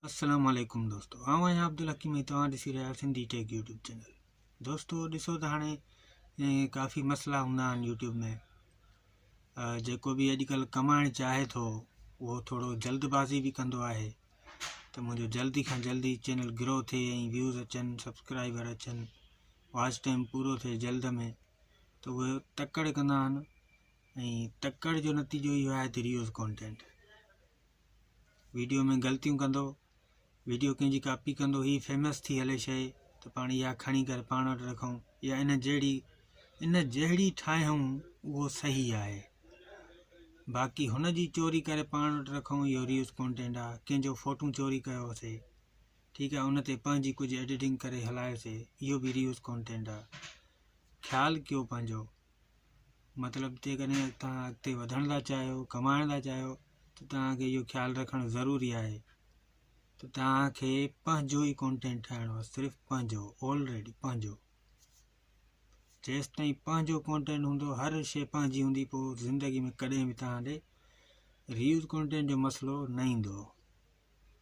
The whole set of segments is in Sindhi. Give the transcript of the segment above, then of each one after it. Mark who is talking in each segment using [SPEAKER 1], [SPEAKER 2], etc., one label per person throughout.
[SPEAKER 1] السلام عليڪم دوستو آئون آهيان عبدالحڪيم ۽ توهان ڏسي رهيا آهيو سنڌي ٽيڪ يوٽيوب چينل دوستو ڏسو ته هاڻي ڪافي مسئلا هوندا آهن يوٽيوب ۾ جيڪو بي اڄڪلهه ڪمائڻ چاهي ٿو اهو ٿورو جلد بازي به ڪندو آهي ته منهنجو جلدي کان جلدي چينل گرو ٿئي ۽ ويوز اچن سبسڪرائبر اچن واچ ٽائم پورو ٿئي جلد ۾ ته اهي تڪڙ ڪندا آهن ۽ تڪڙ جو نتيجو اهو آهي ته ريوز ڪانٽينٽ ويڊيو ۾ غلطيون ڪندو ويڊيو ڪنهن جي ڪاپي ڪندو هي فيمس ٿي هلي شيء ته پاڻ اها کڻي ڪري پاڻ وٽ رکون يا ان جهڙي ان جهڙي ٺاهيون اهو صحيح آهي باقي هن جي چوري ڪري پاڻ وٽ رکون اهو ريوز ڪونٽينٽ آهي ڪنهن جو فوٽو چوري ڪيوسي ٺيڪ آهي ان تي پنهنجي ڪجهه ايڊيٽنگ ڪري هلايوسي اهو به ريوز ڪونٽينٽ آهي خيال ڪيو پنهنجو مطلب جيڪڏهن توهان اڳتي وڌڻ ٿا چاهيو ڪمائڻ ٿا چاهيو ته توهانکي اهو خيال رکڻ ضروري آهي ته توهانکي پنهنجو ئي ڪونٽينٽ ٺاهڻو آهي صرف پنهنجو آلريڊي پنهنجو جيستائين پنهنجو ڪونٽينٽ هوندو هر شي پنهنجي هوندي پوء زندگي ۾ ڪڏهن به توهان ڏي ريوز ڪونٽينٽ جو مسئلو نه ايندو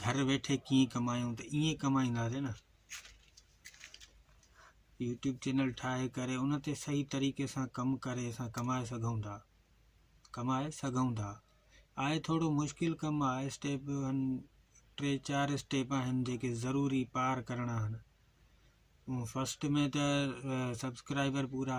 [SPEAKER 1] گهر ويٺي ڪيئن ڪمايون ته ائين ڪمائينداسين نه يوٽيوب چينل ٺاهي ڪري ان تي صحيح طريقي سان ڪم ڪري اسان ڪمائي سگهون ٿا ڪمائي سگهون ٿا آهي ٿورو مشڪل ڪم آهي اسٽيپ ٽي چار اسٽيپ آهن جيڪي ضروري پار ڪرڻا آهن فرسٽ ۾ ته سبسڪرائبر پورا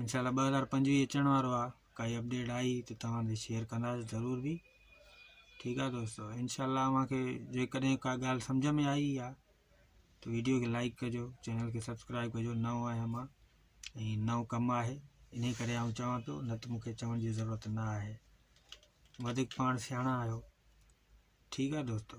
[SPEAKER 1] انشاء الله ٻه هزار پنجويهه اچڻ وارو آ ڪائي اپڊيٽ آئي ته توهان سان شيئر ڪنداسي ضرور بي ٺيڪ آ دوستو انشاء الله اوهان کي جيڪڏهن ڪا ڳالهه سمجھ ۾ آئي آ ته ويڊيو کي لائڪ ڪجو چينل کي سبسڪرائب ڪجو نئون آهيان مان ۽ نئون ڪم آهي ان ڪري آئون چوان پيو نه ته مونکي چوڻ جي ضرورت نه آهي وڌيڪ پاڻ سياڻا آهيو ٺيڪ آ دوستو